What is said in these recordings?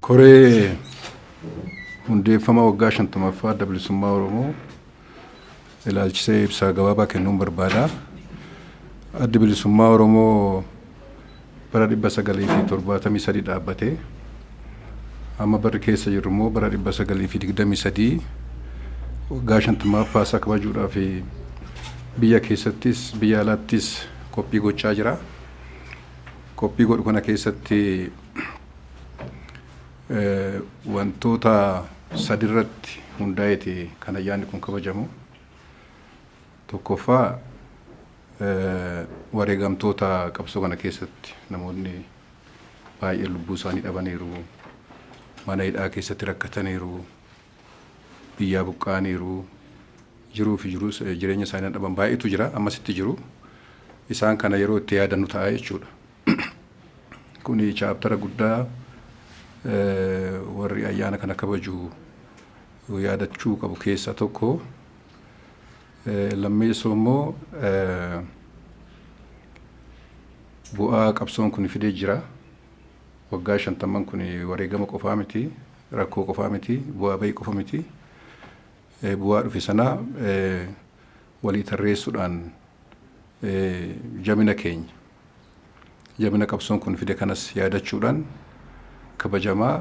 Koree hundeeffama waggaa 50ffaa Adda Bilisummaa Oromoo ilaalchisee ibsaa gabaabaa kennuun barbaada. Addi Bilisummaa Oromoo bara 1973 dhaabbate. Amma barri keessa jirru immoo bara 1923 waggaa 50ffaa isaa kabajuudhaaf biyya keessattis biyya alaattis qophii gochaa jira. Qophii godhu kana keessatti Wantoota sadirratti hundaa'eeti kan ayyaanni kun kabajamu. Tokkoffaa wareegamtoota qabsoo kana keessatti namoonni baay'een lubbuu isaanii dhabaniiru. Mana hidhaa keessatti rakkataniiru. Biyyaa buqqa'aniiru. Jiruu fi jireenya isaanii dhaban baay'eetu jira. Ammasitti jiru. Isaan kana yeroo itti yaadannu ta'a jechuudha. Kuni chaaptara guddaa warri ayyaana kana kabaju yaadachuu qabu keessaa tokko. Lammeessoo immoo bu'aa qabsoon kun fidee jira. Waggaa shantamman kun wareegama qofaa miti, rakkoo qofaa miti, bu'aa bahii qofa miti. Bu'aa dhufe sana walii tarreessuudhaan jabina keenya, jabina qabsoon kun fide kanas yaadachuudhaan kabajamaa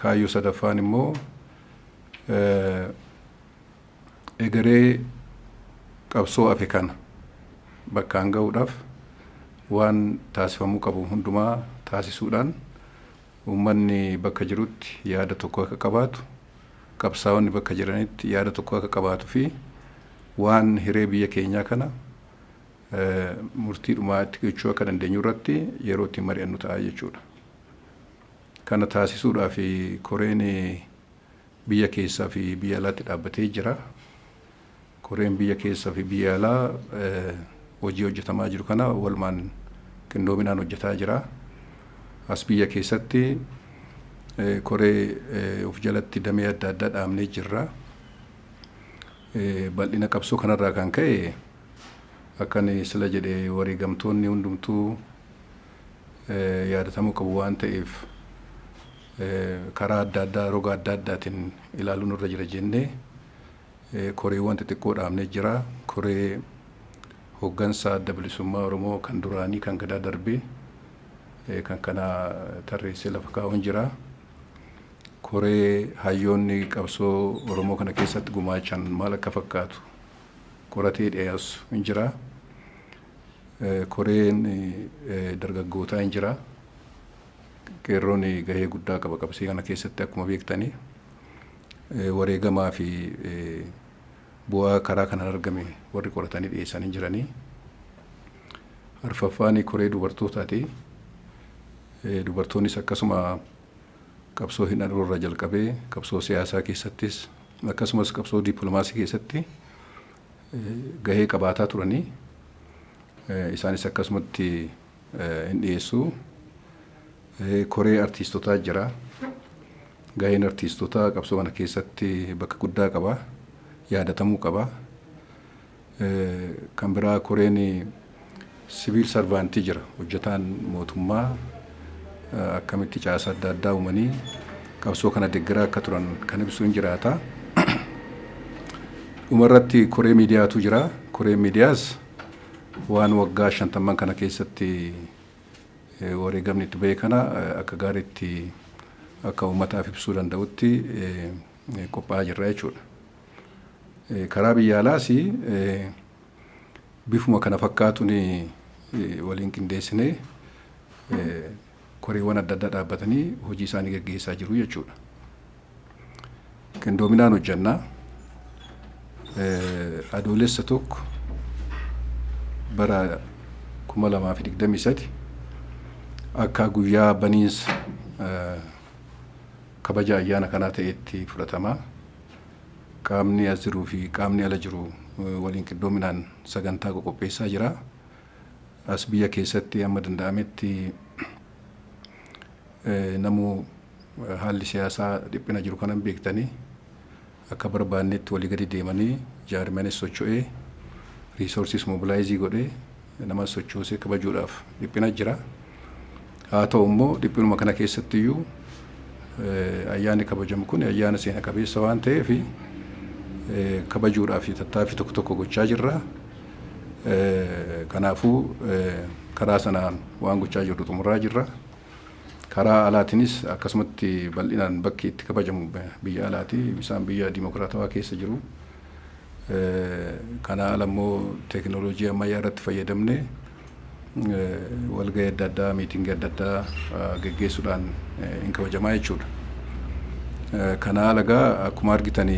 kaayyoo sadaffaan immoo egeree qabsoo hafe kana bakkaan ga'uudhaaf waan taasifamuu qabu hundumaa taasisuudhaan Uummanni bakka jirutti yaada tokko akka qabaatu, qabsaa'onni bakka jiranitti yaada tokko akka qabaatu fi waan hiree biyya keenyaa kana murtii dhumaa itti gochuu akka dandeenyu irratti yeroo ittiin mari'annu ta'a jechuudha. Kana taasisuudhaaf koreen biyya keessaa fi biyya alaatti dhaabbatee jira. Koreen biyya keessa fi biyya alaa hojii hojjetamaa jiru kana walumaan qindoominaan hojjetaa jira. As biyya keessatti koree of jalatti damee adda addaa dhaabnee jirra. Bal'ina qabsoo kanarraa kan ka'e akkan sila jedhe wareegamtoonni hundumtuu yaadatamuu qabu waan ta'eef karaa adda addaa roga adda addaatiin ilaaluun irra jira jennee koreewwan xixiqqoo dhaabnee jira. Koree hoggansa Adda Bilisummaa Oromoo kan duraanii kan Gadaa darbee kan kana tarreessee lafa kaa'uun jira. Koree hayyoonni qabsoo Oromoo kana keessatti gumaachan maal akka fakkaatu qoratee dhiyeessu hin jira. Koreen dargaggootaa hin jira. Qeerroon gahee guddaa qaba qabsee kana keessatti akkuma beektanii. Wareegamaa fi bu'aa karaa kanaan argame warri qoratanii dhiyeessan hin jirani. Arfaffaan koree dubartootaati. Dubartoonnis akkasuma qabsoo hidhannoo irraa jalqabee qabsoo siyaasaa keessattis akkasumas qabsoo dippiloomaasii keessatti gahee qabaataa turanii isaanis akkasumatti hin dhiyeessu. Koree artiistotaa jira. Gaheen artiistotaa qabsoo kana keessatti bakka guddaa qaba. Yaadatamuu qaba. Kan biraa koreen siviil sarvaantii jira. Hojjetaan mootummaa akkamitti caasaa adda addaa uumanii qabsoo kana deggeraa akka turan kan ibsu hin jiraata. Dhumarratti koree miidiyaatu jira. Koreen miidiyaas Waan waggaa shantamman kana keessatti wareegamni itti bahe kana akka gaariitti akka uummataaf ibsuu danda'utti qophaa'aa jirra jechuudha. Karaa biyya alaas bifuma kana fakkaatuun waliin qindeessinee koreewwan adda addaa dhaabbatanii hojii isaanii gaggeessaa jiru jechuudha. Qindoominaan hojjannaa adoolessa tokko bara 2023 akka guyyaa baniinsa kabaja ayyaana kanaa ta'etti fudhatama. Qaamni as jiruu fi qaamni ala jiru waliin qindoominaan sagantaa qoqopheessaa jira. as biyya keessatti amma danda'ametti namuu haalli siyaasaa dhiphina jiru kanan beektanii akka barbaannetti walii gadi deemanii jaarmiyaanis socho'ee riisoorsiis mobilaayizii godhee namas sochoosee kabajuudhaaf dhiphina jira. Haa ta'u immoo dhiphinuma kana keessatti iyyuu ayyaanni kabajamu kun ayyaana seena qabeessa waan ta'eef kabajuudhaaf tattaaffii tokko tokko gochaa jirra. Kanaafuu karaa sanaan waan gochaa jirru xumuraa jirra. Karaa alaatinis akkasumatti bal'inaan bakki itti kabajamu biyya alaati. Isaan biyya dimokiraatawaa keessa jiru. Kanaa ala immoo teeknooloojii ammayyaa irratti fayyadamnee walgahii adda addaa, miitingii adda addaa geggeessuudhaan hin kabajamaa jechuudha. Kanaa ala egaa akkuma argitani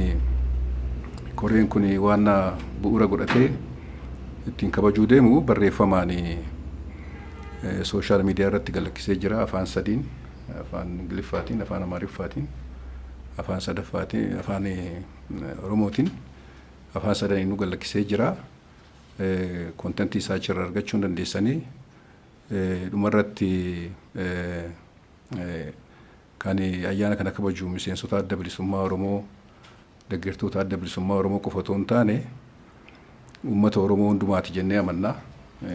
koreen kun waan bu'uura godhatee ittiin kabajuu deemu barreeffamaan sooshaal miidiyaa irratti galakkisee jira afaan sadiin afaan Ingiliffaatiin, afaan Amaariffaatiin, afaan sadaffaatiin, afaan Oromootiin afaan sadaniinuu gad lakkisee jira. Content isaa achirraa argachuu hin dandeessanii. Dhumarratti kan ayyaana kana kabaju miseensota adda bilisummaa Oromoo deggertoota adda bilisummaa Oromoo qofa otoo hin taane uummata Oromoo hundumaati jennee amanna.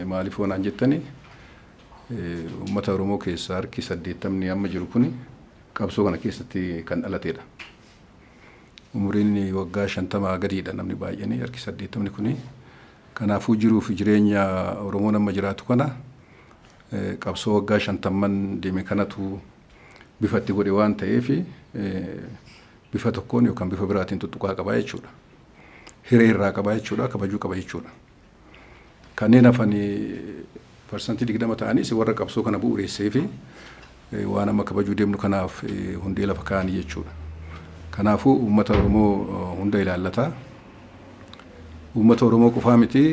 Maaliif yoo naan jettani uummata Oromoo keessaa harki saddeettamni amma jiru kuni qabsoo kana keessatti kan dhalateedha. Umuriin waggaa 50 gadiidha namni baay'een, harki 80 kuni. Kanaafuu jiruu fi jireenya Oromoon amma jiraatu kana qabsoo waggaa shantamman deeme kanatu bifa itti godhe waan ta'eef bifa tokkoon yookaan bifa biraatiin tuttuqaa qaba jechuudha. Hiree irraa qaba jechuudha, kabajuu qaba jechuudha. Kanneen hafan parsantii 20 ta'anis warra qabsoo kana bu'ureesseefi waan amma kabajuu deemnu kanaaf hundee lafa kaa'anii jechuudha. Kanaafuu uummata Oromoo hunda ilaallata. Uummata Oromoo qofaa miti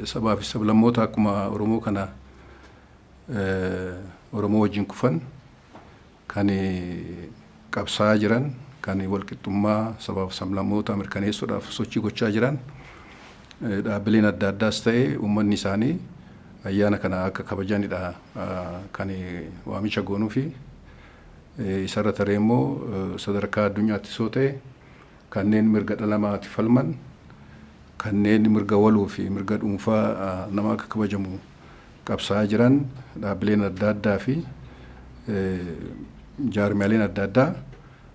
sabaa fi sablammoota akkuma Oromoo kana Oromoo wajjin kufan kan qabsaa'aa jiran, kan walqixxummaa sabaaf sablammootaa mirkaneessuudhaaf sochii gochaa jiran dhaabbileen adda addaas ta'e uummanni isaanii ayyaana kana akka kabajanidha kan waamicha goonuufi. Isarra taree immoo sadarkaa addunyaattis yoo ta'e kanneen mirga dhala namaatiif falman, kanneen mirga waloo fi mirga dhuunfaa namaa akka kabajamu qabsaa'aa jiran dhaabbileen adda addaa fi jaarmiyaaleen adda addaa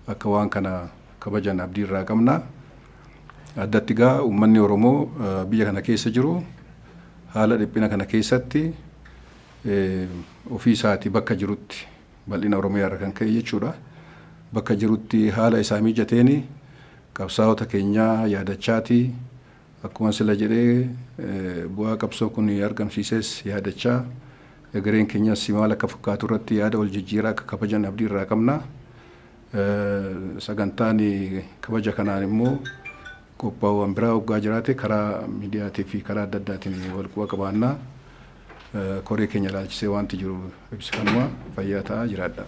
akka waan kana kabajan abdii irraa qabna. Addatti gaa uummanni Oromoo biyya kana keessa jiru haala dhiphina kana keessatti ofii isaati bakka jirutti bal'ina Oromiyaa irra kan ka'e jechuudha. Bakka jirutti haala isaa mijateen qabsaa'ota keenyaa yaadachaatii Akkuma sila jedhe bu'aa qabsoo kun argamsiises yaadachaa egereen keenyas maal akka fakkaatu irratti yaada wal jijjiiraa akka kabajan abdii irraa qabna. Sagantaan kabaja kanaan immoo qophaa'uwan biraa oggaa jiraate karaa miidiyaatii fi karaa adda addaatiin wal quba qabaanna. Koree keenya ilaalchisee waanti jiru ibsi kanuma. Fayyaa ta'aa jiraadhaa.